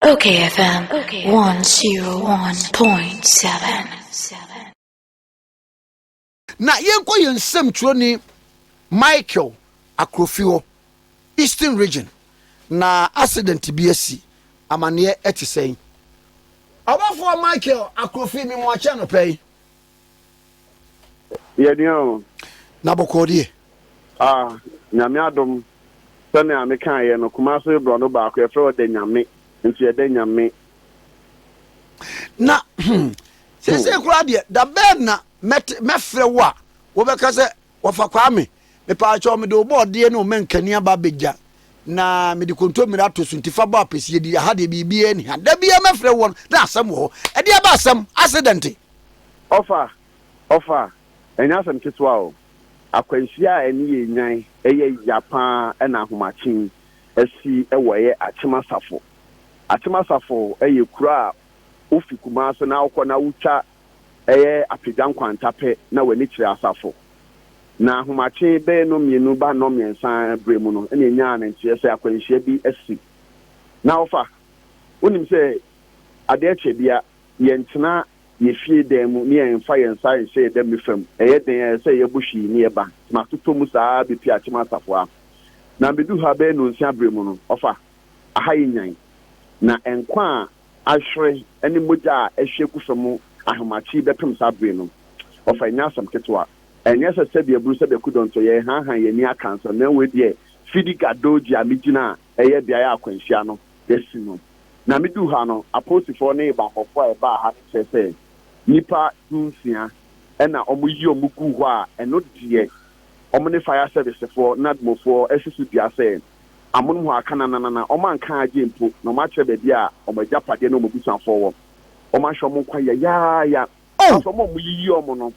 Okay FM 101.7. Na yɛnkɔ yɛn nsɛmtwerɛni Michael Akrofi hɔ, Eastern Region. Na accident bi asi, amaneɛ ɛte sɛn? Ɔbɔfoɔ Michael Akrofi, me mu akyɛ anɔpa yi. Yɛnua o. Na bɔkɔɔ deɛ. Ah, Nyame adom. Sɛnea mekaeɛ no, Kumase borɔno baako, yɛfrɛ hɔ Danyame. Nti yɛ Danyame. Na, hmm, seesei koraa deɛ, da bɛn na mɛte, mɛfrɛ wo a, wobɛka sɛ Wɔfa Kwame, Mepaakyɛw mede wo bɔɔdeɛ ne wo mankani aba abɛgya na mede kontommire ato so nti fa bɔ apɛsie di, aha deɛ biribiara nni ha. Da biara mɛfrɛ woɔ no na asɛm wɔ hɔ. Ɛdeɛ aba asɛm, asedɛnte? Ɔfa, Ɔfa, ɛnyɛ asɛm ketewa o. Akwanhyia a ani yɛ nyan, ɛyɛ ya pa ara na ahomakye yi asi wɔ ɛyɛ Akyem Asafo. Akyem Asafo yɛ kuro a wofi Kumase na wokɔ na wotwa ɛyɛ apagya nkwanta pɛ na w'ani kyerɛ asafo. Na ahomakye bɛyɛ nnɔnmienu ba nnɔnmiɛnsa berɛ mu no na yɛnyaa no nteɛ sɛ akwanhyia bi asi. Na ɔfa, wonim sɛ adeɛ kyɛ bia, yɛntena yɛ fie dan mu na yɛmfa yɛn nsa nhyɛ yɛ dame fam, ɛyɛ den a ɛyɛ sɛ yɛbɔ hwii na yɛba, nti matotɔ mu saa ara bɛpie akyem asafo ha. Na meduu ha bɛyɛ nnɔnsia berɛ mu no, ɔfa, aha yɛ nyan. Na nkwa a ahwere ne mogya a ahwie agu fam ahomakye yi bɛpem saa bere no. Wɔfa ɛnyɛ asɛm ketewa. Ɛnyɛ sɛ sɛdeɛ Bru sɛdeɛ Kudɔn nso, yɛrehanhan yɛn ani aka nsɛm, na wei deɛ Fidi Gadoji a megyina a ɛyɛ beaeɛ a akwanhyia no asi no. Na meduu ha no, apolisifoɔ ne bammɔfoɔ a ɛbaa ha no kyerɛ sɛ nnipa dunsia na wɔyi wɔn guu hɔ a ɛno deɛ wɔne fire servicefoɔ, NADMOfoɔ, asi so dua sɛ amonom hɔ aka nananana, wɔanka agye mpo, na wɔakyerɛ baabi a wɔn agyapadeɛ ne wɔn abusuafoɔ wɔ. Wɔahwɛ wɔn nkwa yayaaya. Oh! Nanso wɔn a wɔyiyi wɔn no,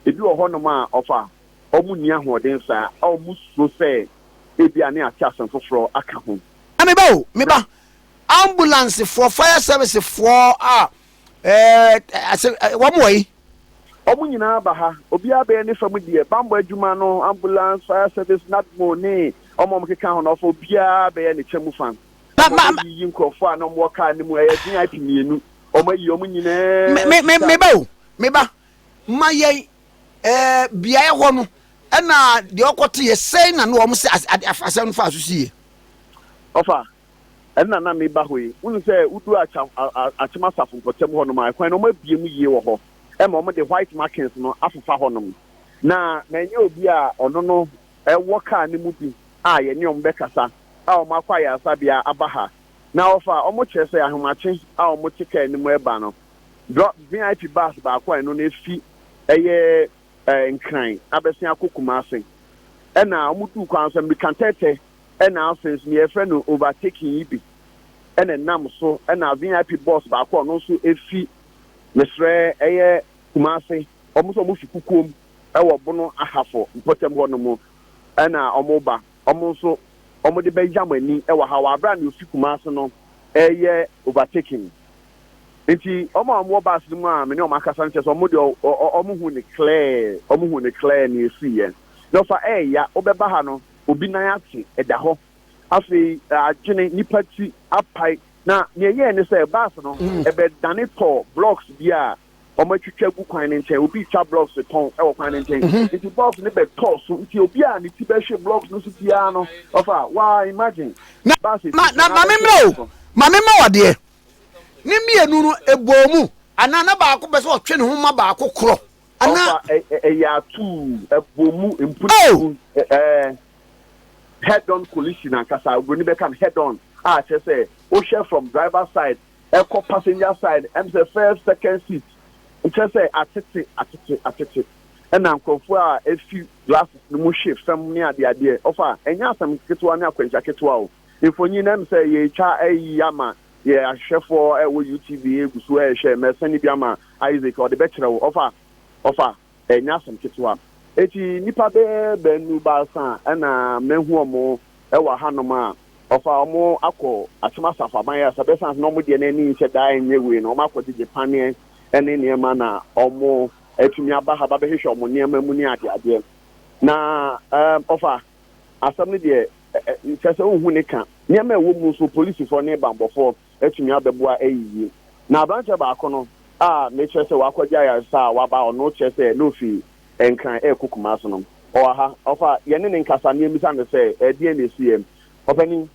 ebi wɔ hɔnom a, ɔfa, wɔnni ahoɔden saa, a wɔsuro sɛ ebia ne ate asɛm foforɔ aka ho. Meba o, meba. Na. Ambulansefoɔ, fire servicefoɔ a. Ɛɛ, ase, wɔn wɔ yi. Wɔn nyinaa ba ha. Obiara bɛyɛ ne fam deɛ. Bammɔ adwuma no, ambulance, fire service, NADMO ne wɔn a wɔkeka ho no, wɔfa obiara bɛyɛ ne kyɛ mu fa. Na wɔbɛyiyi nkurɔfoɔ a na wɔwɔ car no mu, ɛyɛ VIP mmienu. Wɔayi wɔn nyinaa. Me, me, me ba o, me ba. Ma yɛn, ɛɛ, beaeɛ hɔ no, ɛna deɛ ɔkɔteeɛ sɛn na na wɔn se asɛm no faa so sie? Ɔfa, Nna na me ba hɔ yi, wohu sɛ wodu Acha Achem asafo mpɔtam hɔnom a, kwan no wɔabue mu yie wɔ hɔ ma wɔde white markings no afefa hɔnom. Na na ɛnyɛ obi a ɔno no wɔ kaa no mu bi a yɛne wɔn bɛkasa a wɔakɔ ayaresabea aba ha na wɔfa a wɔkyerɛ sɛ ahomakye a wɔte kaa no mu reba no, drɔ, VIP bus baako a ɛno no efi ɛyɛ Nkran abɛsen akɔ Kumase. Ɛna wɔduu kwan so, mmirikatɛtɛ na afei nso nea yɛfrɛ no overtaking yi bi na ɛnam so na vip bus baako a ɔno nso efi mesrɛ ɛyɛ kumase wɔn nso wɔn fi kukuom ɛwɔ bono ahafo mpɔtam hɔ nom ɛna wɔn ba wɔn nso wɔn de bɛya mo ani ɛwɔ ha wɔ abira na ofi kumase no ɛyɛ overtaking nti wɔn a wɔn wɔ baasi no mu a me ne wɔn akasa no kyɛ sɛ wɔn de wɔn hu ne clear wɔn hu ne clear na efi yɛ na ɔfa ɛɛya wɔbɛba ha no obi nan ase da hɔ. Afei adwene, nipa ti apae, na nea ɛyɛe ne sɛ bus no bɛdane tɔɔ blocks bi a wɔatwitwa agu kwan no nkyɛn. Obi retwa blocks retɔn wɔ kwan no nkyɛn, nti bus no bɛtɔɔ so. Nti obi a ne ti bɛhwe blocks no so biara no, ɔfa wa imagine bus ti so na abɛhwe blocks no. Ma me mma wo adeɛ. Ne mmienu no ɛbɔɔ mu anaa na baako pɛ sɛ ɔtwe ne ho ma baako korɔ Ana. Ɔfa ɛ ɛ ɛyɛ atuu, ɛbɔ mu, Oh! mpunimpu, ɛ ɛ head-on collision ankasa, oburoni bɛka no head-on, a kyerɛ sɛ wohwɛ from driver side ɛkɔ passenger side, ɛm sɛ first, second seat, kyerɛ sɛ atete, atete, atete, ɛna nkorɔfoɔ a ɛfi glasses no mu hwe fam ne adeɛ adeɛ. Ɔfa, ɛnyɛ asɛm ketewa ne akwanhyia ketewa o. Mfonyin no ɛm sɛ yɛretwa ayi ama Yɛ ahwehwɛfoɔ a ɛwɔ UTB gu so rehwɛ. Mɛsɛne bi ama Isaac, ɔde bɛkyerɛ wo. Ɔfa, ɔfa, ɛnyɛ asɛm ketewa. Enti nnipa bɛyɛ baanu baasa na mahu wɔn wɔ ahanom a, ɔfa, wɔakɔ Akyem Asafo Aban Ayaresa bɛ, ɛsiane sɛ na wɔn deɛ no ani nhyɛ da nyɛ wei no, wɔakɔgyegye paneɛ ne nneɛma na wɔatumi aba ha ba bɛhwehwɛ wɔn nneɛma mu ne adeadeɛ. Na, ɛɛm, ɔfa, asɛm no deɛ ɛ kyerɛ sɛ wohu ne ka. Nneɛma a ɛwɔ mu nso, polisifoɔ ne bammɔfoɔ atumi abɛboa ayiyi. Na aberanteɛ baako no a mekyerɛ sɛ wakɔgye ayaresa a waba a ɔno kyerɛ sɛ na ɔfi Nkran rekɔ Kumasi no, ɔwɔ ha. Ɔfa yɛne no nkasa na yɛmmisa no sɛ, Ɛdeɛn na ɛsiiɛ, ɔpanin?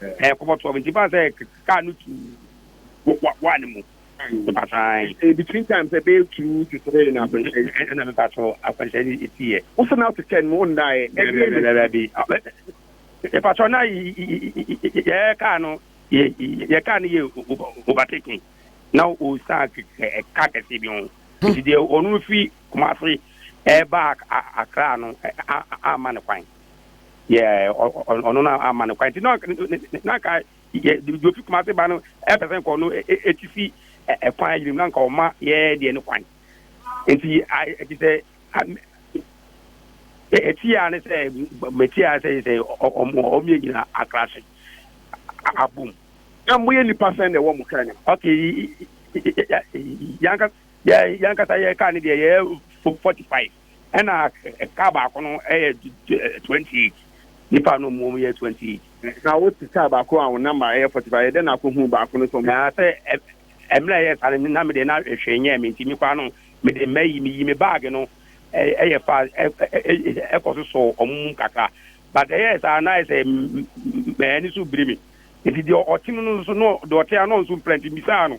Ɛɛ kɔbɔ tɔɔ me nti baa sɛ kaa no tu wa wa ne mu. Mpakyɛw. Eh, between time sɛ bɛyɛ two to three na akwanhyɛ yi. Ɛna ɛna mpakyɛw akwanhyɛ yi eti yɛ. Wosan na to ten mu ɔnna yɛ. Ɛbi ɛbi. Ɛbi ɛbi. Mpakyɛw na yɛ kaa no yɛ yɛ kaa no yɛ overtaking na o san kɛ kaa kɛse bi ho. Nti deɛ ɔno fi Kumasi ɛba Accra no ama ne kwan. Yeah, ɔno no ama no kwan nti na nka deɛ ofi kuma se ba no ɛpɛ sɛ nkɔ no ɛti fi ɛkwan yirim na nka ɔma yɛɛ deɛ no kwan nti ɛti sɛ ɛti a ne sɛ mɛti a sɛ sɛ ɔmo yɛ nyina akra se abom na moyɛ nnipa sɛn na ɛwɔ mo kra nim ok yankasa yɛka ne deɛ yɛ 45 ɛna kaa baako no ɛyɛ twenty eight nipa no mu yɛ twenty eight. na o ti kaa baako a o namba ɛyɛ forty five ɛdɛ na akɔ hu baako no sɔn. na sɛ ɛmira ɛyɛ saa no na mi de na ɛhwɛ nyɛ mi nti mi kɔ ano mi de mɛ yi mi yi mi baagi no ɛyɛ fa ɛkɔ so sɔ ɔmo mu kakra but ɛyɛ saa na ɛsɛ mɛ ɛni so biri mi nti deɛ ɔte no no nso no deɛ ɔte ano nso mpira nti mi saa no.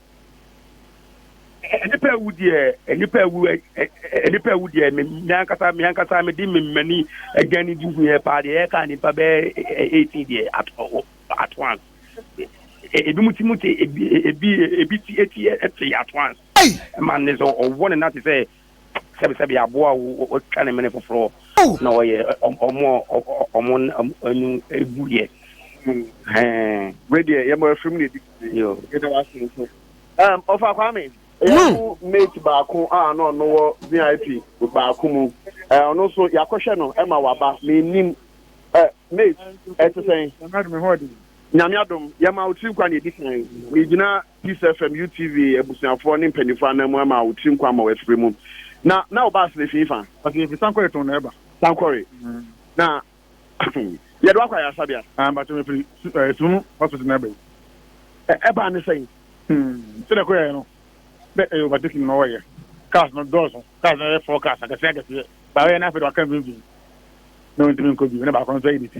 Nnipa awu deɛ, nnipa awu, nnipa awu deɛ, me ankasa, me ankasa, me de me mmani agya ne di hu yɛ paa deɛ, ɛka nnipa bɛɛ eighteen deɛ ato ato ans. Ebi mu ti mu te, ebi ebi ebi ti eti te ato ans. Ɛma ne sɛ ɔwɔ ne nate sɛ sɛbisɛbi aboa a wɔtwa ne mene foforɔ na wɔyɛ ɔmo ɔmo anu egu yɛ. Wei deɛ yɛma afiri mu na ɛdi yɛda wase nso ɔfa Kwame ɛyɛ mo mate baako a na ɔno wɔ VIP baako mu ɔno nso yɛakɔhwɛ no ɛma waba menim mate ɛte sɛn Nyame adom, yɛma wo tiri nkwa nea ɛdi kan. Megyina Peace FM, UTV abusuafoɔ ne mpanimfoɔ anan mu ama wo tiri nkwa ma wafiri mu. Na na wo bus no ɛfii fa? Ɔse ɛfiri Sankore tɔn na ɛba. Sankore? Na yɛde wakɔ ayaresabea? Ah, mpakyɛ me firi eh, Sunu hospital na ɛba yi. Ɛbaa ne sɛn? Hmm, sɛdeɛ kɔyɛɛ no, dɛ ɛyɛ overtaking na ɔyɛ. Cars no dɔɔso, cars no yɛ four cars akɛseɛ akɛseɛ. Baayɛ no afei de waka mfimfini na ɔntumi nkɔ bio, na baako nso ayɛ ne ti.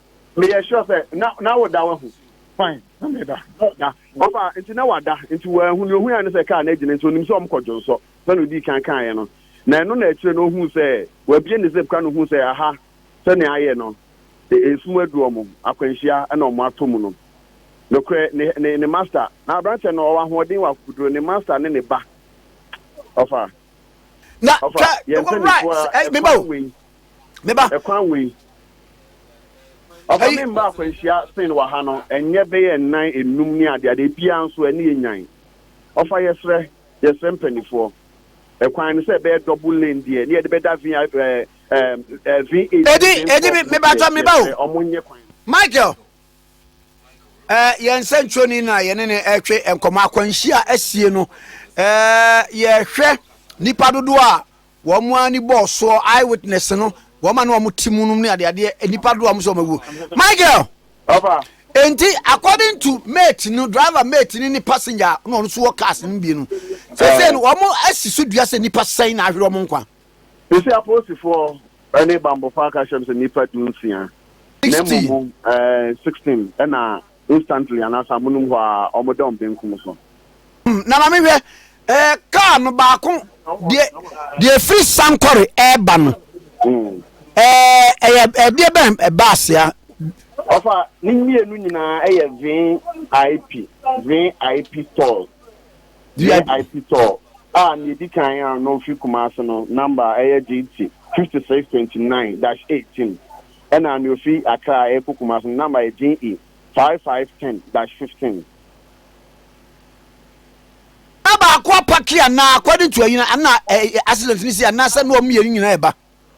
Meyɛ sure sɛ na na woda wahu. Fine na meda oh da ɔfa nti na wada nti wanhu nea ohuae ne sɛ kaa no agyina nti onim sɛ wɔkɔ dwonsɔ sɛnea odii kan kaeɛ no na ɛno na akyire no ohuu sɛ wabie ne zip ka no huu sɛ aha sɛnea ayɛ no e, esum adu wɔn akwanhyia na wɔn atɔ mu no nokorɛ ne ne ne master na aberanteɛ no ɔwɔ ahoɔden wɔ akokoduro ne master ne ne ba ɔfa na ɔfa ka yɛn mpanyinfoɔ right a eh, ɛfa meba o wei meba. Ɛkwan wei. Ɔfa me mma akwanhyia sen wɔ ha no ɛnyɛ bɛyɛ nnan enum ne ade ade ebiara nso ɛne yɛ nyan. Ɔfa yɛsrɛ yɛsrɛ mpanifoɔ. Ɛkwan no sɛ ɛbɛyɛ double lane deɛ ne yɛde bɛda vin ɛɛ ɛɛ vin eight. Edi edi me mebatɔ meba o. Ɔmo nyɛ kwan. Michael ɛɛ yɛn nsɛntwerɛni na yɛne ne ɛtwe nkɔmɔ akwanhyia asie no ɛɛ yɛhwɛ nipa dodoɔ a Wɔn ara ni bɔɔ soɔ eye witness no wɔn a na wɔn te mu nom ne adeadeɛ nnipa dodoɔ a wɔn sɛ wɔn awuo. Michael! Papa. Enti according to mate no driver mate no ne passenger a na wɔn nso wɔ cars no mu bienu sɛsɛɛ no wɔn asi so dua sɛ nnipa sɛn na ahwere wɔn nkwa. Sɛsɛɛ apolisifoɔ ne banbɔfoɔ aka ahyɛm sɛ nnipa du nsia na mmom eh, sixteen na instantly anaasɛ amonom hɔ ara, wɔda wɔn benkum so. Na ma menhwɛ, eh, kaa no baako, deɛ, deɛ ɛfiri Sankore ɛreba no, eh, ɛyɛ ɛdeɛ bɛn, bus a? Ɔfa, ne mmienu nyinaa yɛ VIP, VIP stores, VIP store, a nea ɛdi kan a na ɔfiri Kumasi no, number ɛyɛ JT 5629-18. Ɛna nea ofi Accra rekɔ Kumasi no number yɛ JA five five ten dash fifteen. Na baako apake anaa according to ɛyina ɛna ɛyɛ accident ne si anaasɛ na wɔn mmienu nyinaa ɛba?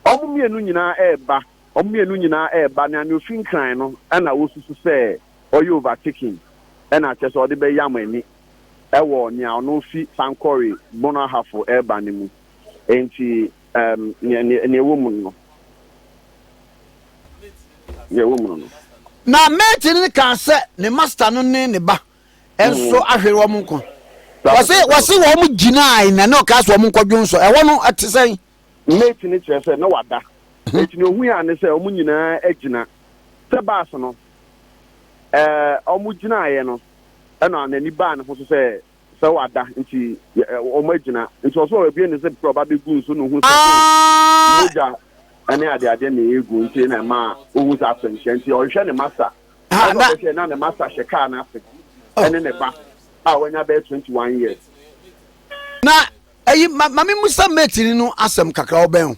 Wɔn mmienu nyinaa ɛɛba, wɔn mmienu nyinaa ɛɛba na nea ofi Nkran no ɛna wosusu sɛ ɔyɛ overtaking ɛna akyerɛ sɛ ɔde bɛyam ani ɛwɔ nea ɔno ofi Sankore Bono Ahafo ɛɛba no mu. Enti um, nea ɛwɔ mu no nea ɛwɔ mu no na mate no kaa sɛ ne master no ne ne ba nso mm. ahwere wɔn nkwa wɔse wɔse wɔn gyinae na ne ɔkaa sɛ wɔn nkɔdwo nsɔ ɛhɔ no ɛte sɛn mate no kyerɛ sɛ na wada mhm. nti na ohun a ne sɛ wɔn nyinaa agyina sɛ baas no ɛɛ wɔn gyinaeɛ no ɛna n'ani baa ne ho so sɛ sɛ wada nti wɔn agyina nti ɔsɛ ɔbɛbie ne zip kura ɔba bɛgu nso na ohun sɛ ah! mogya ɛne adeade na egu nti na ɛma ohun sɛ asɛnhyɛ nti ɔhwehwɛ ne masa ah, ɛna ɔbɛhwɛ na ne masa hyɛ kaa n'ase oh. ɛne ne ba a wanya bɛyɛ twenty one years. na ɛyi maame musa mɛtiri no asɛm kakra ɔbɛn o.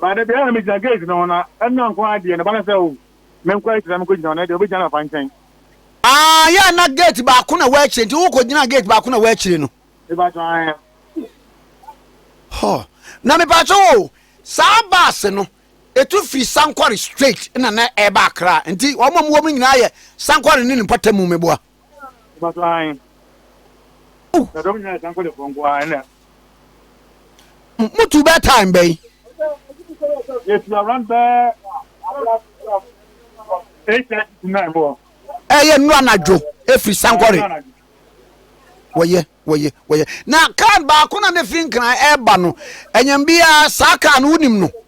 Ba da biara na megyina gate no ho na ɛno nko ara deɛ ne ba no sɛ oh menkɔ akyiri na menkɔ gyina hɔ na ɛdeɛ ɔbɛgyina no afa nkyɛn. Aah yɛ na gate baako na wɔ akyire nti wokɔ gyina gate baako na wɔ akyire no. Mepakyɛ ae. Hɔ na mepakyɛ o saa bus no ɛtu firi Sankore straight na na ɛba Accra nti wɔn a wɔwɔ mu nyinaa yɛ Sankore ne ne mpɔtamu meboa. motu bɛ time bɛn ɛyɛ nnura anadwo ɛfiri sankɔre wɔyɛ wɔyɛ wɔyɛ na kaa baako na ne firi nkran ɛreba no ɛnyɛm biara saa kaa no wonim no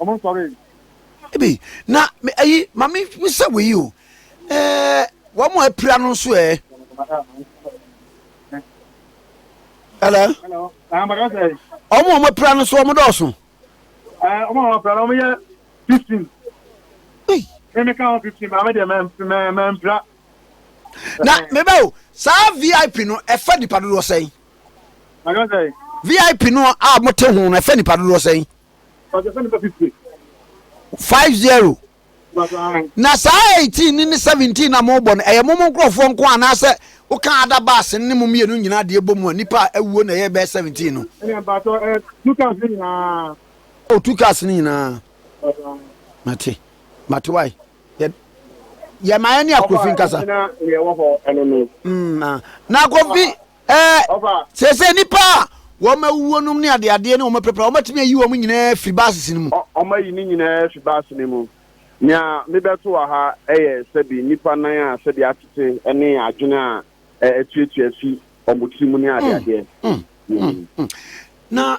Ɔmo nsɔre. Ebi na me ayi ma me sɛ wei o ɛɛ wɔn a apira no nso ɛɛ. Hello. Hello. Na maka sɛ. Wɔn a wɔn apira no nso wɔn dɔɔso. Ɛɛ wɔn a wɔn apira no wɔn yɛ fifteen. Ei. Ɛmi ka wɔn fifteen maa mi deɛ mɛ mɛ mɛ mpira. Na mɛ bɛ o saa vip no ɛfɛ nipa dodoɔ sɛn. Maka sɛ. Vip no a mo te ho no ɛfɛ nipa dodoɔ sɛn. Five zero na saa eighteen ne ne seventeen na mo bɔ no ɛyɛ mo mo nkorɔfoɔ nko anaasɛ woka ada baase ne mo mmienu nyinaa deɛ bɔ mu a nipa a awuo na ɛyɛ bɛyɛ seventeen no. ɛnna mpatsɔ ɛɛ two cars ne nyinaa. o two cars ne nyinaa. mate mate wae yɛ yɛ maa yɛ ne akofi nkasa. ɛna yɛ wɔ hɔ ɛno no. na akofi Ɛɛ, seesei nnipa a wɔawuo nom ne adeadeɛ ne wɔn apirapira, wɔatumi ayi wɔn nyinaa afiri bases no mu. Wɔayi ne nyinaa afiri base no mu. Nea mebɛto wɔ ha yɛ sɛbi nnipa nan a sɛbi atete ne adwene a atuatua afi wɔn tirim ne adeadeɛ. Na